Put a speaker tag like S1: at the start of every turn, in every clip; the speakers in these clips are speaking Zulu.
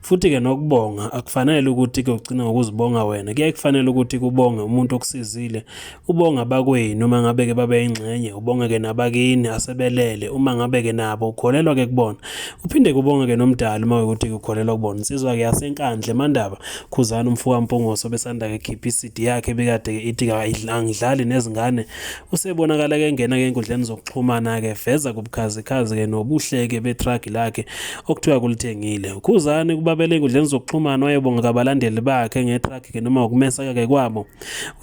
S1: Futhi-ke nokubonga akufanele ukuthi kuyogcina ngokuzibonga wena, kuyaye kufanele ukuthi kubonge umuntu okusizile, ubonga abakwenu uma ngabe-ke babe yingxenye, ubonge-ke nabakini asebelele uma ngabe-ke nabo ukholelwa-ke kubona, uphinde kubonge-ke nomdali uma ukuthi ukholelwa kubona. Insizwa-ke yaseNkandla eMandaba, Khuzani umfokaMpungoso obesanda-ke kukhipha i-CD yakhe ebikade-ke ithi angidlali nezingane, Usebonakala ke engena ke enkundleni zokuxhumana ke veza kubukhazikhazi ke nobuhleke betruck lakhe okuthiwa kulithengile. Ukhuzani kubabele enkundleni zokuxhumana wayebonga kabalandeli bakhe ngetruck ke noma ukumeseka ke kwabo.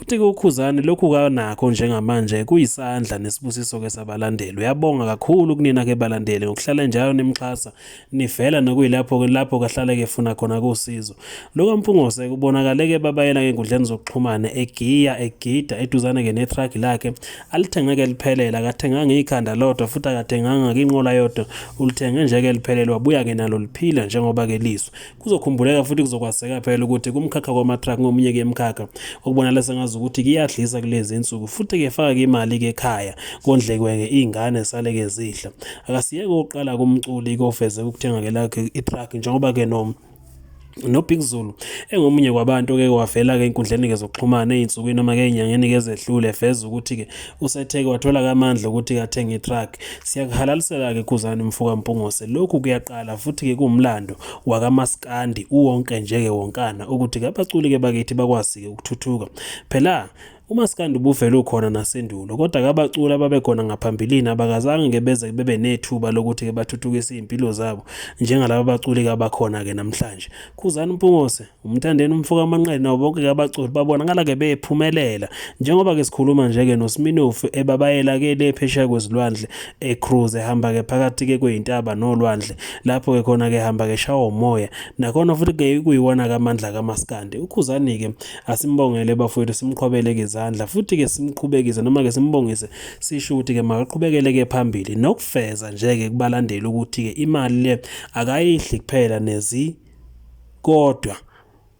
S1: Uthi ke ukhuzani lokhu kanakho njengamanje kuyisandla nesibusiso ke sabalandeli. Uyabonga kakhulu kunina ke balandeli ngokuhlala njalo nimxhasa nivela nokuyilapho ke lapho kahlale ke funa khona kusizo lo kaMpungose kubonakale ke babayela ngenkundleni zokuxhumana egiya egida eduzane ke netruck lakhe alithenge ke liphelela akathenganga ikhanda lodwa futhi akathenganga inqola yodwa ulithenge nje ke liphelelwa buya ke nalo liphila njengoba ke lizwe Kuzokhumbuleka futhi kuzokwazeka phela ukuthi kumkhakha kwamathrak ngomunye ke mkhakha okubonakala sengazi ukuthi kuyadlisa kulezi insuku futhi ke faka imali ke ekhaya kondlekwe ke ingane sale ke zidla akasiyeke oqala kumculi kofeze ukuthenga ke lakhe itruck njengoba ke no noBig Zulu engomunye kwabantu ke wavela ke inkundleni ke zokuxhumana ezinsukwini noma ke enyangeni ke zedlule veza ukuthi ke Usetheke wathola kamandla ukuthi kathenge itruck. Siyakuhalalisela-ke Khuzani mfoka Mpungose. Lokhu kuyaqala futhi-ke kuwumlando wakamaskandi uwonke njeke wonkana ukuthi kabaculi-ke bakithi bakwazi-ke ukuthuthuka. Phela umaskandi ubuvele ukhona nasendulo kodwa kabaculi ababekhona ngaphambilini abakazange ke beze bebe nethuba lokuthi ke bathuthukise izimpilo zabo njengalabo baculi kabakhona ke namhlanje khuzani mpungose Umthandeni umfoka amanqele nabo bonke ke abaculi babonakala ke bephumelela njengoba ke sikhuluma nje ke noSminofu ebabayela ke le phesheya kwezilwandle ecruise ehamba ke phakathi ke kwezintaba nolwandle lapho ke khona ke hamba ke shawo moya nakhona futhi ke kuyiwona kamandla kamaskandi ukhuzani ke asimbongele bafowethu simqhobele ke izandla futhi ke simqhubekise noma ke simbongise sisho ukuthi ke makaqhubekele ke phambili nokufeza nje ke kubalandeli ukuthi ke imali le akayidli kuphela nezi kodwa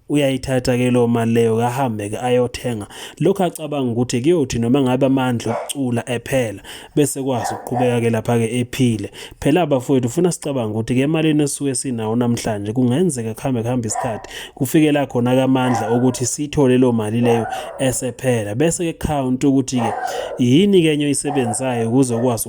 S1: uyayithatha ke lo mali leyo kahambe ke ayothenga lokho acabanga ukuthi kuyothi noma ngabe amandla okucula ephela bese kwazi ukuqhubeka ke lapha ke ephile phela abafowethu ufuna sicabanga ukuthi ke emalini esuke sinawo namhlanje kungenzeka kuhambe kuhambe isikhathi kufike la khona ke amandla ukuthi sithole lo mali leyo esephela bese ke count ukuthi ke yini ke enye oyisebenzayo ukuze ukwazi